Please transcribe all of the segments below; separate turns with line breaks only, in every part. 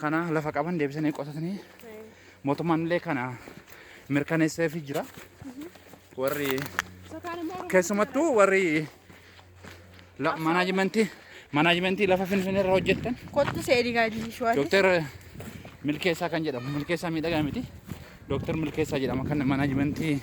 kana lafa qaban deebisanii qotatanii mootummaan illee kana mirkaneesseefii jira. Warri keessumattuu warri la- manaajimentii manaajimentii lafa finfinnee irra hojjettan Kottu seedii gaadii
shuwaati. Dooktar
Milkeessaa kan jedhamu Milkeessaa miidhagaa miti. Dooktar Milkeessaa jedhama kan manaajimentii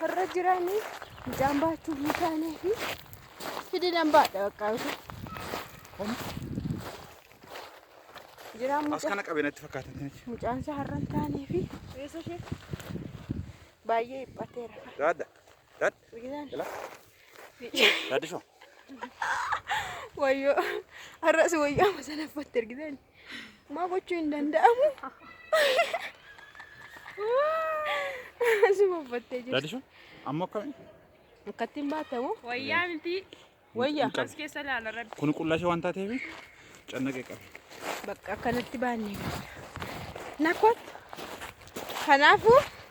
Har'a jiraanii midhaan baachuuf ni taanee fi fidi nan baadha bakka jiraan As mucaa kana qabee
natti fakkaatan tinichi. mucaan isaa har'a hin
taanee fi Eessa ishee? baay'ee dhiphateera. Daadda.
Daadda. Biqilaan
Jala.
Daaddi shoo.
wayyoo har'as wayyaa masana uffatte ergitan. Maa gochuu hin danda'amu. Asuma uffattee jirti. Dadishu amma akkami?
Akkatti hin
baatamu. Wayyaa miti.
Wayya. Hin qabu. As
keessa ilaala
rabbi. Kun qullashee waan taateef
cannaqee qabe. Bakka akkanatti
baannee. Nakot. Kanaafuu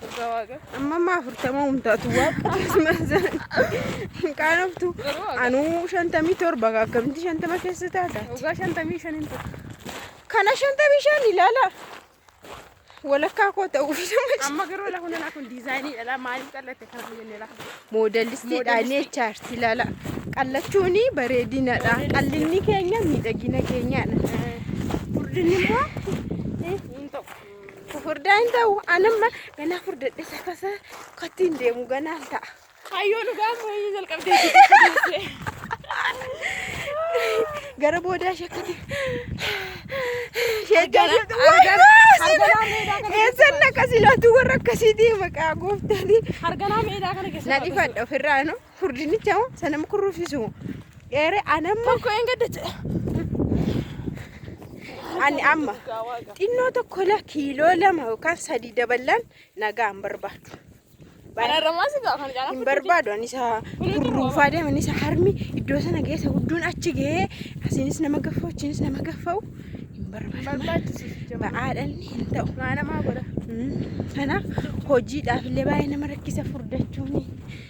Dhugaa
waaqa. Amma amma afurtama hundaatu waaqa hin qaanoftu. Garuu waaqa. Anuu shantamii torba akkamitti shantama keessa taata? Dhugaa shantamii shan hin
ta'u. Kana
shantamii shan ilaala. Walakkaa koo ta'uu fi nama Amma garuu lafa
hundanaa kun diizaayinii dhala maaliif qallatte kana hin jenne lafa. moodalistiidha ni
echaarti ilaala. Qallachuun bareedinadha. Qallinni keenya miidhagina keenyadha. Furdinni immoo Hin
ta'u. Furdaa hin
ta'u. Anamma ganaa furdadhe sakasa katti hin deemu ganaan ta'a. Kayyoo dhugaa
mooyyee jalqabdee jirti.
Gara boodaa shakkati. Sheekkana eessan akkasii laatuu warra akkasii deema qaa gooftaanii. Harganaa meedaa kana
keessa. Na dhifadha ofirraa no.
Furdinicha moo sana mukurruufisu moo dheere anamma Tokko hin gadda jedhe. ani amma xinnoo tokko la kiiloo lama yookaan sadii daballaan nagaa hin barbaadu. Kana irra
maal si gaafan gaara hin barbaadu ani isa
kurruufaa deeman isa harmi iddoo sana geessa gudduun achi gahee asiinis nama gaffa'u achiinis nama gaffa'u hin barbaadu. barbaachisu jama. Ba'aadhaan hin ta'u. Maa namaa godha. Mm.
Kanaaf
hojiidhaaf illee baay'ee nama rakkisa furdachuuni.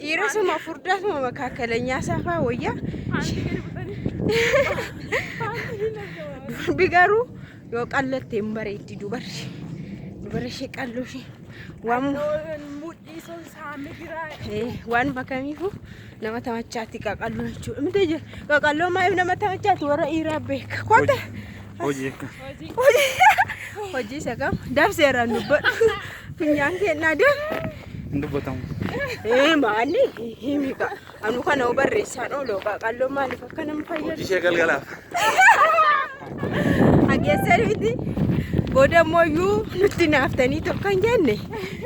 Dhiirasuma furdaasuma makaakaleenyaa saafaa wayyaa. Durbi garuu yoo qallotte hin bareeddi dubarri. Dubarri ishee qalloo ishee. Waan
waan bakamiifu
nama tamachaatti qaqalloo jechuudha. Miti qaqalloo maayif nama tamachaatti warra dhiiraa beeka. Kotta
Hojii.
Hojii isa kam? Dabseera hin dubbadhu. Funyaan kennaa deemu. Hin dubbatamu.
Ee maanni
himi ka. Anu kana hoo barreessaan ooloo qaaqalloo maaliif akka nama fayyadu? Hojii ishee galgalaaf. Hageessan miti. Booda immoo iyyuu nutti naaftanii tokko hin jenne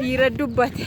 dhiira dubbate.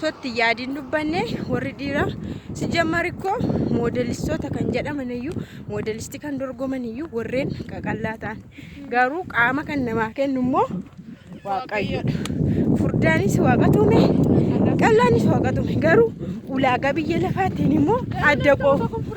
totti yaadiin dubbanne warri dhiiraa sijjammar ikkoo moodelistoota kan jedhaman iyyuu moodelistii kan dorgoman iyyuu warreen qaqallaa ta'an garuu qaama kan namaa kennu immoo waaqayyoodha. Furdaanis waaqa tuume qallaanis waaqa tuume garuu ulaagaa biyya lafaatiin immoo adda qofa.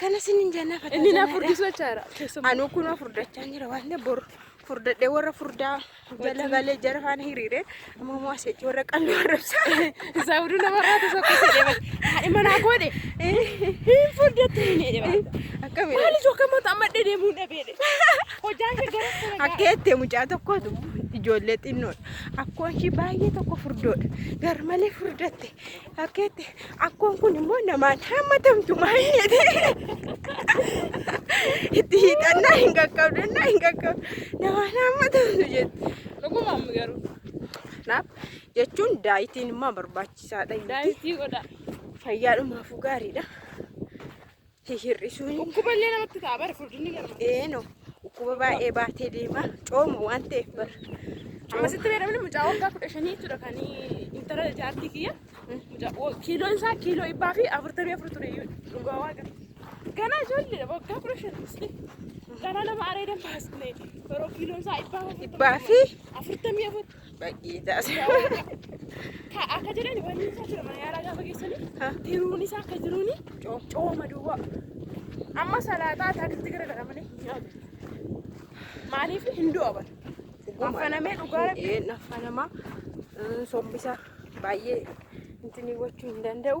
Kana
sinin jennaa fataa Inni na jennaa dha. furdisuu jechaadha.
Keessumaa. Anuu kun
furdachaa jira waan ta'eef bor furdadhee warra furdaa jala galee jara faana hiriire amma immoo asitti warra qalbii warrabsaa. Isaa hunduu nama
irraa tokko tokko jedhama. Haadhi manaa koodhe. Hin furdatti hin jedhama. Akkamiin? Maali tokko
immoo amma
dedeemuu dhabeedhe. Hojaan kee gara sana ga'a. Akka jettee mucaa
tokkotu ijoollee xinnoodha. Akkoon ishii baay'ee tokko furdoodha. Garmalee furdatte. Fakkeetti akkoon kun immoo namaan hammatamtu maal jedhe itti hiixannaa hin qaqqabdannaa hin qaqqabdu namaan hammatamtu jette. Dhuguma amma garuu.
Kanaaf
jechuun daayitiin immoo barbaachisaadha. Daayitii godha.
Fayyaadhumaafuu
gaariidha. hir'isuu hin Dhukkuba illee namatti ta'a bara
furdinni lama. eeno dhukkuba
baay'ee baatee deema cooma waan ta'eef bara Amma sitti
beekamni mucaa waggaa kudha shanii jechuudha kan intala jaartii kiyya. Mucaa wo- kiiloon isaa kiiloo dhibbaa fi afurtamii afur ture iyyuu dhugaa waaqa. Ganaa ijoolleedha waggaa kudha shan isli. Ganaa nama areedan baasne yeroo kiiloon isaa dhibbaa fi afurtamii dhibbaa fi
afurtamii afur. Bayyee taase. Ka akka
jedhan wanni isaa jira mana yaalaa gaafa geessanii tiruun isaa akka jiruuni cooma duwwaa. Amma salaataa taatitti garagaramanii hin nyaatu. Maaliif hin du'a bara. Affanamee dhugaa rabbi. Ee naffanamaa
sombisa baay'ee intinii gochuu hin danda'u.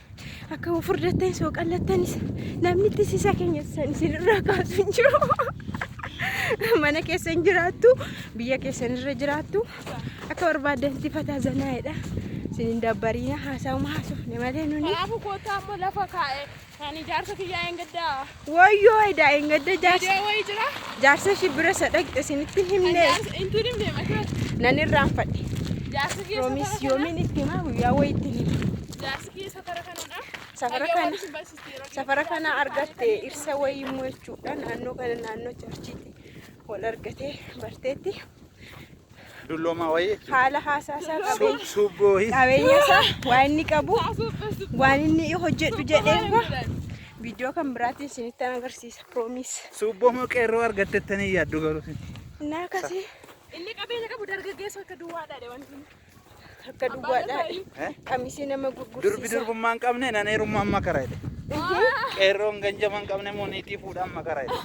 Akka of furdattan soo qallattanis namnitti sisa keenya san isinirraa kaasu hin jiru. Mana keessan jiraattu, biyya keessan irra jiraattu akka barbaaddan itti fataa zanaa'edha. Isin hin dabbariina haasaa'uma haasofne malee nuni. Kanaafuu kootaa ammoo lafa
kaa'e kan ijaarsa kiyyaa hin gaddaa. Woyyoo edaa
engadda jaarsa Video wayii jira.
jaarsa ishii bira isa
dhaqxe isinitti hin Kan himne jaarsa intiin himne
mataan. nan irraanfadhe.
Jaarsi kiyya
Roomis safara kana. yoomiin itti himaa
guyyaa wayii itti hima. Jaarsi kiyya safara
kanadha. Safara Hayyoo kana- waan isin barsiiste yeroo Safara
dhiyootti kana jaarsi argatte isaanii kan irsa wayii immoo jechuudha naannoo kana naannoo charchiitti wal argatee barteetti.
Dulloomaa wayii jechuudha. haala haasaa isaa
qabeenya Suubboo his.
qabeenya isaa
waan inni qabu waan inni hojjedhu jedhee immoo viidiyoo kan biraatiin isinitti agarsiisa piroomiis Suubboo moo qeerroo
argattettanii yaaddu garuu isin. naa kasee
Inni qabeenya
qabu dargaggeessa akka duwwaadhaadha wanti inni. Takka
duwwaadha. Eh? Qamisii nama Durbi gurgursiisa. durbummaa hin qabne
nan heerummaa amma kara jedhe. Qeerroon ganjama hin qabne immoo niitii fuudha amma kara jedhe.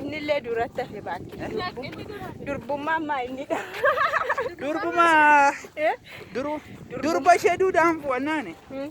Innillee duratti hafe baakki. Durbummaa ammaa inni dha.
Durbumaa Eh? duru durba ishee duudaan fu'annaani. Hmm.